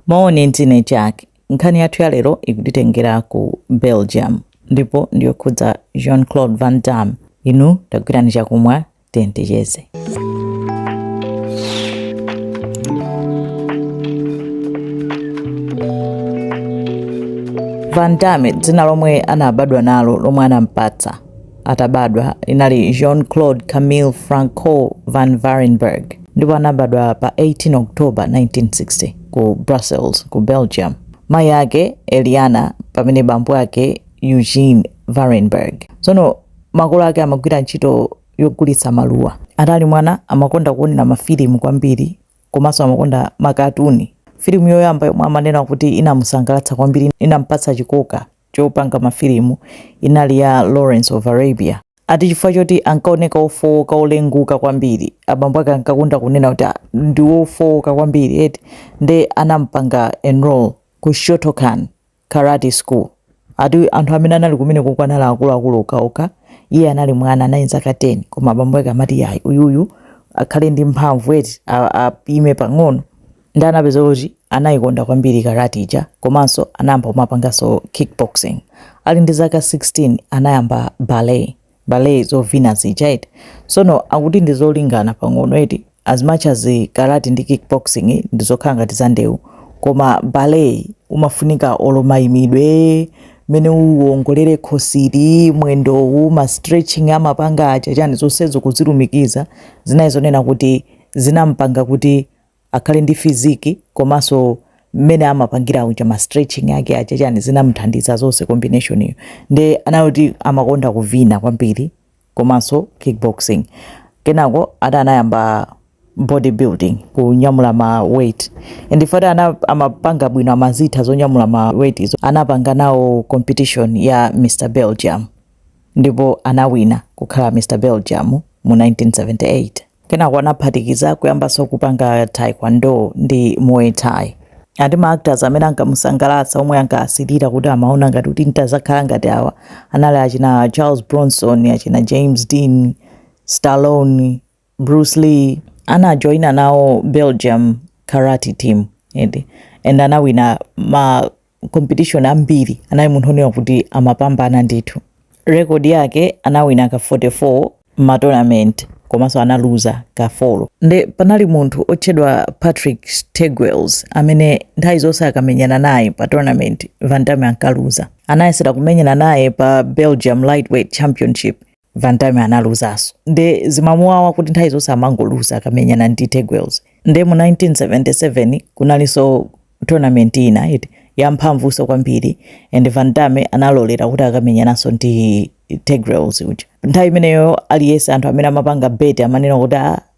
Mawoni dzina ndine Jack. Nkhani yathu ya lero ikutitengera ku Belgium ndipo ndiyokhudza Jean Claude Van Damme. Inu tagwirani chakumwa tiyeni ticheze. Van Damme dzina lomwe anabadwa nalo lomwe anampatsa atabadwa linali Jean-Claude Camille Francois van Varenberg ndipo anabadwa pa 18 October 1960 ku Brussels, ku Belgium. Mayi ake Eliana pamene bambo ake Eugene Varenberg. Tsono makolo ake amagwira ntchito yogulitsa maluwa. Atali mwana amakonda kuonera mafilimu kwambiri komanso amakonda makatuni. Filimu yoyamba yomwe amanena kuti inamusangalatsa kwambiri inampatsa chikoka chopanga mafilimu inali ya Lawrence of Arabia. Ati chifukwa choti ankaoneka ofowoka olenguka kwambiri, abambo ake ankakonda kunena kuti "Ah, ndi wofowoka kwambiri eti nde anampanga enroll ku Shotokan Karate School. Ati anthu amene anali kumeneko anali akuluakulu okhaokha, iye anali mwana, anali ndi zaka 10 koma abambo ake amati yayi uyuyu akhale ndi mphamvu eti a- apime pang'ono. Nde anapeza kuti anaikonda kwambiri karati ija komanso anayamba kumapanganso kickboxing. Ali ndi zaka 16 anayamba ballet, ballet zovina zija eti. Tsono akuti ndi zolingana pang'ono eti as much as karati ndi kickboxing ndi zokhala ngati za ndewu koma ballet yi umafunika olo maimidwe, mmene uwongolera khosili, mwendowu, ma stretching amapanga aja chani zonsezo kuzilumikiza zinali zonena kuti zinampanga kuti akhale ndi fiziki komanso mmene amapangira uja ma stretching ake aja chani zinamuthandiza zonse combination iyo nde anali kuti amakonda kuvina kwambiri komanso kickboxing kenako ati anayamba bodybuilding kunyamula ma weight and ife ati amapanga bwino amazitha zonyamula ma weight izo anapanga nawo competition ya mr belgium ndipo anawina kukhala mr belgium mu 1978 Kenako anaphatikiza kuyambanso kupanga taekwondo ndi muay thai. Ati ma actors amene ankamusangalatsa omwe ankasirira kuti amaona ngati kuti n'tadzakhala ngati awa anali achina Charles Bronson, achina James Dean, Stallone, Bruce Lee. Anajoina nawo Belgium karate team eti and anawina ma competition ambiri anali munthu onena kuti amapambana ndithu record yake anawina ka 44 matournament komanso analuza ka 4 ndi panali munthu otchedwa patrick teugels amene nthawi zonse akamenyana naye pa tournament van damme ankaluza anayesera kumenyana naye pa belgium lightweight championship Van Damme analuzaso nde zimamuwawa kuti nthawi zonse amangoluza akamenyana ndi Teugels. Nde mu 1977 kunalinso tournament ina iti yamphamvuso kwambiri and Van Damme analolera kuti akamenyananso ndi Teugels uja. Nthawi imeneyo aliyese anthu amene amapanga bet amanena kuti ah,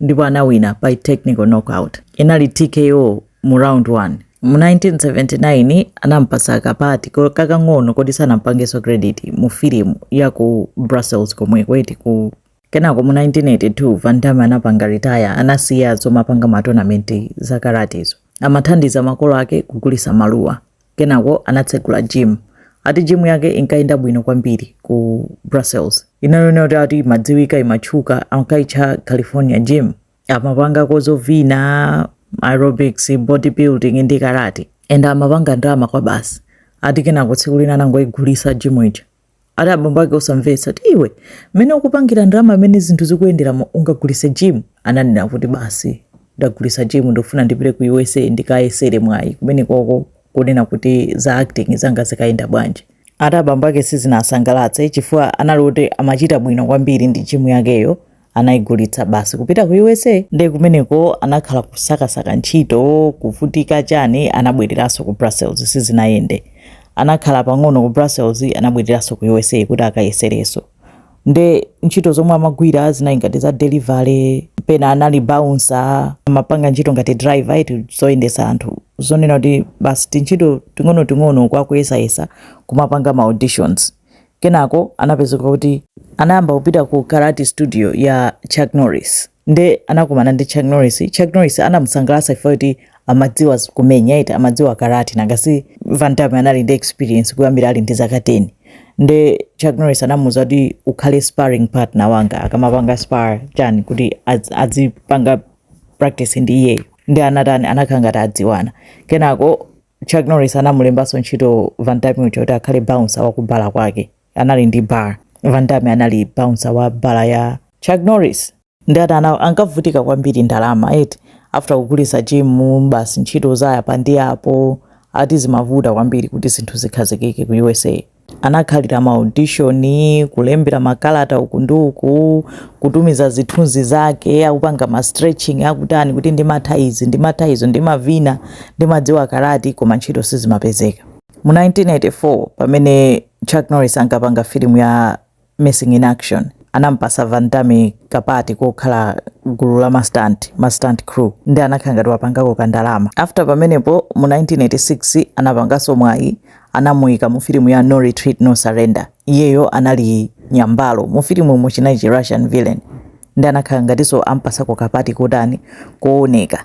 ndipo anawina by technical knockout inali tko mu round 1 mu 1979 anampasa kapati ko- kakang'ono koti sanampangenso credit mu filimu ya ku brussels komweko eti ku kenako mu 1982 van damme anapanga retire anasiya zomapanga matonamenti za karatizo amathandiza makolo ake kugulisa maluwa Kenako anatsegula gym. Ati gym yake inkayenda bwino kwambiri ku Brussels. Inanena kuti ati imadziwika, imatchuka, inkayitchedwa California gym. Amapangako zovina, aerobics, bodybuilding ndi karate. And amapanga ndalama kwabasi. Ati kenako tsiku lina anangoyigulitsa gym ija. ati abambo ake osamvetsa kuti iwe mmene ukupangira ndalama mmene zinthu zikuyenderamo ungagulise gym ananena kuti basi ndagulisa gym ndikufuna ndipite ku usa ndikayesere mwayi kumeneko kunena kuti za acting zanga zikayenda bwanji ati abambo ake sizinasangalatse chifukwa anali kuti amachita bwino kwambiri ndi gym yakeyo anaigulitsa basi kupita ku usa nde kumeneko anakhala kusakasaka ntchito kuvutika chani anabwereranso ku brussels sizinayende anakhala pang'ono ku brussels anabwereranso ku usa kuti akayesereso nde ntchito zomwe amagwira zinali ngati za delivery pena anali bouncer amapanga ntchito ngati driver iti zoyendesa anthu zonena kuti basi tintchito ting'onoting'ono kwinaku kuyesayesa kumapanga ma auditions Kenako anapezeka kuti anayamba kupita ku karate studio ya Chuck Norris nde anakumana ndi Chuck Norris. Chuck Norris anamusangalatsa chifukwa kuti amadziwa kumenya iti amadziwa karate nanga si Van Damme anali ndi experience kuyambira ali ndi zaka 10 nde Chuck Norris anamuuza kuti ukhale sparring partner wanga akamapanga spar chani kuti adz- adzipanga practice ndi iyeyo nde anatani anakhala ngati adziwana kenako Chuck Norris anamulembanso ntchito Van Damme uja kuti akhale bouncer wa kubala kwake. Anali ndi bar. Van Damme anali bouncer wa bala ya Chuck Norris. Nde atani ankavutika kwambiri ndalama eti after kugulitsa gym basi ntchito za apa ndi apo ati zimavuta kwambiri kuti zinthu zikhazikike ku USA. Anakhalira ma audition, kulembera makalata uku ndi uku, kutumiza zithunzi zake akupanga ma stretching akutani kuti ndimatha izi, ndimatha izo, ndimavina, ndimadziwa karati, koma ntchito sizimapezeka. Mu 1984 pamene Chuck Norris ankapanga filimu ya Missing in Action anampasa Van Damme ka part kokhala gulu la ma stunt, ma stunt crew, nde anakhala ngati wapangako ka ndalama. After pamenepo mu 1986 anapangaso mwayi anamuika mu filimu ya No Retreat No Surrender, iyeyo anali nyambalo. Mu filimumu chinali chi Russian villain nde anakhala ngatiso ampasako ka part kotani, kooneka.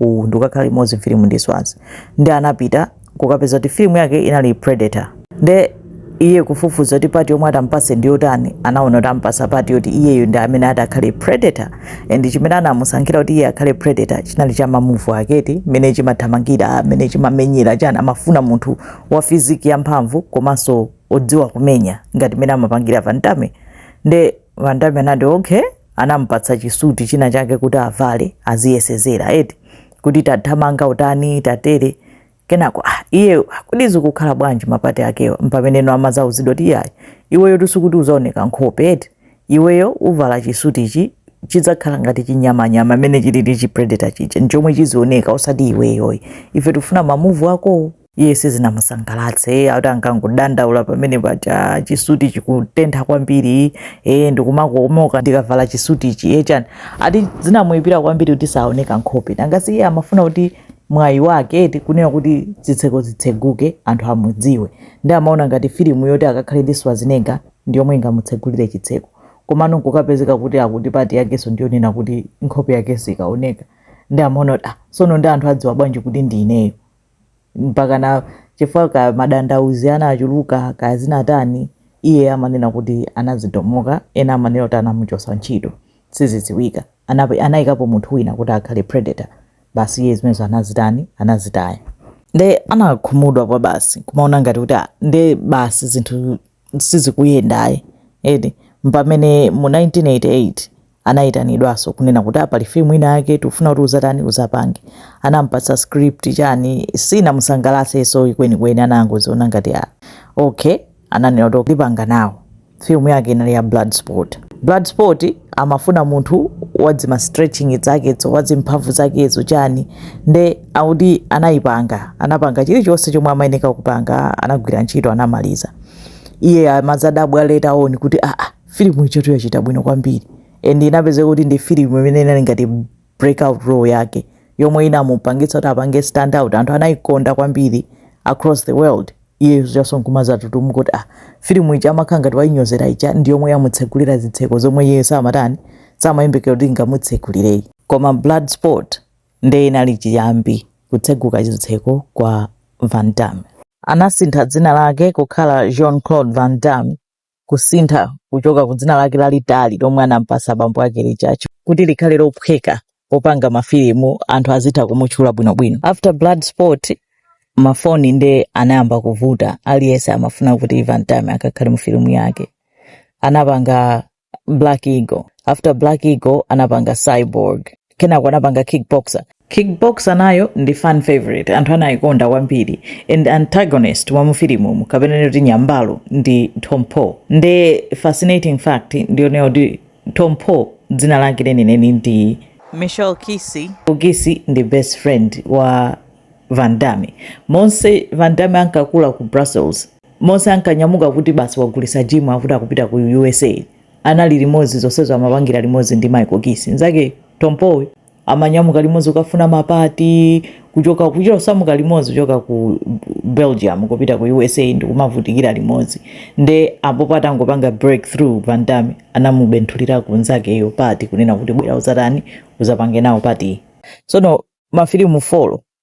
uwu ndi kukakhala limodzi mfilimu ndi Schwarzenegger nde anapita kukapeza kuti filimu yake inali Predator nde iye kufufuza kuti part yomwe atampase ndi yotani anaona kuti ampasa part yoti iyeyo ndi amene ati akhale Predator and chimene anamusankhira kuti iye akhale Predator chinali cha mamuvu ake eti mmene chimathamangira mmene chimamenyera chani amafuna munthu wa fiziki yamphamvu komanso odziwa kumenya ngati mmene amapangira Van Damme nde Van Damme anati okay anamupatsa chisuti china chake kuti avale aziyesezera eti kuti tathamanga utani tatere kenako ah, iye kodi zikukhala bwanji mapati akewa mpamene no amazauzidwa kuti yayi iweyo sikuti uzaoneka nkhope eti iweyo uvala chisuti ichi chidzakhala ngati chinyamanyama mmene chili ndi chipredator chija nchomwe chizioneka osati iweyoyi ife tikufuna mamuvu akowo iye sizinamusangalatse iye akuti ankangodandaula pamene paja chisuti chikutentha kwambiri e ndikumakomoka ndikavala chisutichi e chani akuti zinamuyipira kwambiri kuti saoneka nkhope nanga si iye amafuna kuti mwayi wake eti kunena kuti zitseko zitseguke anthu amudziwe nde amaona ngati filimu yoti akakhale ndi Schwarzenegger ndi yomwe ingamutsegulire chitseko komano nkukapezeka kuti akuti part yakenso ndiyonena kuti nkhope yakenso sikaoneka nde amaona kuti ah sono nde anthu adziwa bwanji kuti ndi ineyo mpakana chifukwa cha madandaulo anachuluka kaya zinatani iye amanena kuti anazikomoka ena amanena kuti anamuchosa ntchito sizidziwika Anap- anayikapo munthu wina kuti akhale Predator basi iye zimenezo anazitani anazitaya nde anakhumudwa kwa basi kumaona ngati kuti "Ah, nde basi zinthu sizikuyenda ayi eti mpamene mu 1988 anayitanidwaso kunena kuti ah, pali film ina yake tikufuna kuti uzatani uzapange anampatsa script chani sinamusangalaseso ikwenikweni anangoziona ngati ah, okay ananena kuti ndipanga nawo film yake inali ya Bloodsport Bloodsport amafuna munthu wadzima stretching zakezo wadzimphamvu zakezo chani nde akuti anayipanga anapanga chilichonse chomwe amayeneka kupanga anagwira ntchito anamaliza iye amazadabwa later on kuti aa ah, ah, filimu ijatu yachita bwino kwambiri and inapezeka kuti ndi filimu imene inali ngati breakout role yake yomwe inamupangitsa kuti apange stand out anthu anayikonda kwambiri across the world iye Jean kumazatutumuka kuti ah filimu ija amakhala ngati wayinyozera ija ndi yomwe yamutsegulira zitseko zomwe iye samatani samayembekera kuti ingamutsegulireyi koma Bloodsport Nde inali chiyambi kutseguka chitseko kwa Van Damme. Anasintha dzina lake kukhala Jean-Claude Van Damme kusintha kuchoka ku dzina lake lalitali lomwe anampasa bambo ake lija ch- kuti likhale lophweka popanga mafilimu anthu azitha kumutchula bwinobwino. After Bloodsport mafoni nde anayamba kuvuta aliyense amafuna kuti Van Damme akakhale mu filimu yake. Anapanga black eagle after black eagle anapanga cyborg kenako anapanga kickboxer kickboxer nayo ndi fan favorite anthu anayikonda kwambiri and antagonist wa mufilimumu kapena kunena kuti nyambalo ndi tong po nde fascinating fact ndiyonena kuti tong po dzina lake lenileni ndi michel qissi qissi ndi best friend wa van damme monse van damme ankakula ku brussels Mose ankanyamuka kuti basi wagulitsa gym akuti akupita ku usa anali limozi zonsezo amapangila limozi ndi Michel Qissi nzake Tong Po amanyamuka limozi kukafuna ma part kuchoka kuchita kusamuka limozi kuchoka ku Belgium kupita ku usa ndikumavutikila limozi nde apopo atangopanga break through Van Damme anamubenthulira ku nzakeyo part kunena kuti bwera uzatani uzapange nawo part sono mafilimu folo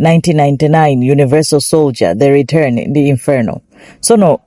1999 universal soldier the return ndi inferno so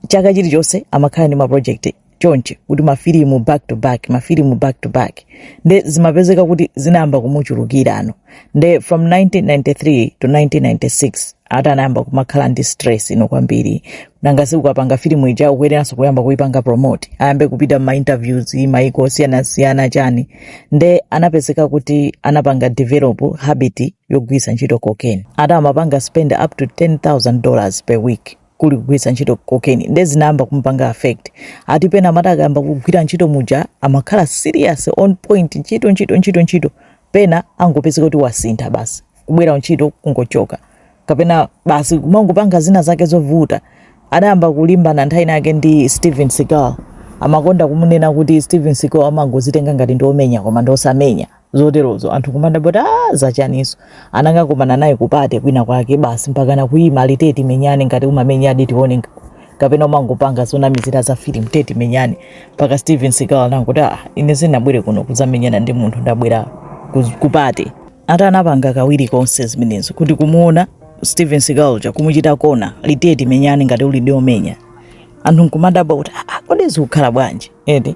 chaka chilichonse amakhala ndi maprojekti chonchi kuti mafilimu back to back mafilimu back to back nde zimapezeka kuti zinayamba kumuchulukira and nde from 1993 to 1996 ati anayamba kumakhala ndi stress inayake kwambiri nanga sikukapanga filimu ija ukuyeneranso kuyamba kuipanga promote ayambe kupita ma interviews maiko osiyanasiyana chani nde anapezeka kuti anapanga develop habit yogwiritsa ntchito cocaine ati amapanga spend up to 10000 dollars per week kuli kugwiritsa ntchito cocaine nde zinayamba kumupanga affect ati pena amati akayamba kugwira ntchito muja amakhala serious on point ntchito ntchito ntchito ntchito pena angopezeka kuti wasintha basi kubwera ku ntchito kungochoka kapena basi kumangopanga zina zake zovuta adayamba kulimbana nthawi inayake ndi Steven Seagal amakonda kumunena kuti Steven Seagal amangozitenga ngati ndi omenya koma ndi osamenya zoterozo anthu kumadabwa kuti ah, zachaniso anangokumana naye ku party kwina kwake basi mpaka na kuima lete timenyane ngati umamenya adi tione kapena umangopanga zonamizira za film tiye timenyane mpaka Steven Seagal anangoti ah, ine sindinabwere kuno kuzamenyana ndi munthu ndabwera ku party ati anapanga kawiri konse zimenezo kuti kumuona Steven Seagal uja kumuchita kona lete timenyane ngati uli ndi omenya anthu kumadabwa kuti ah, ah, kodi zikukhala bwanji eti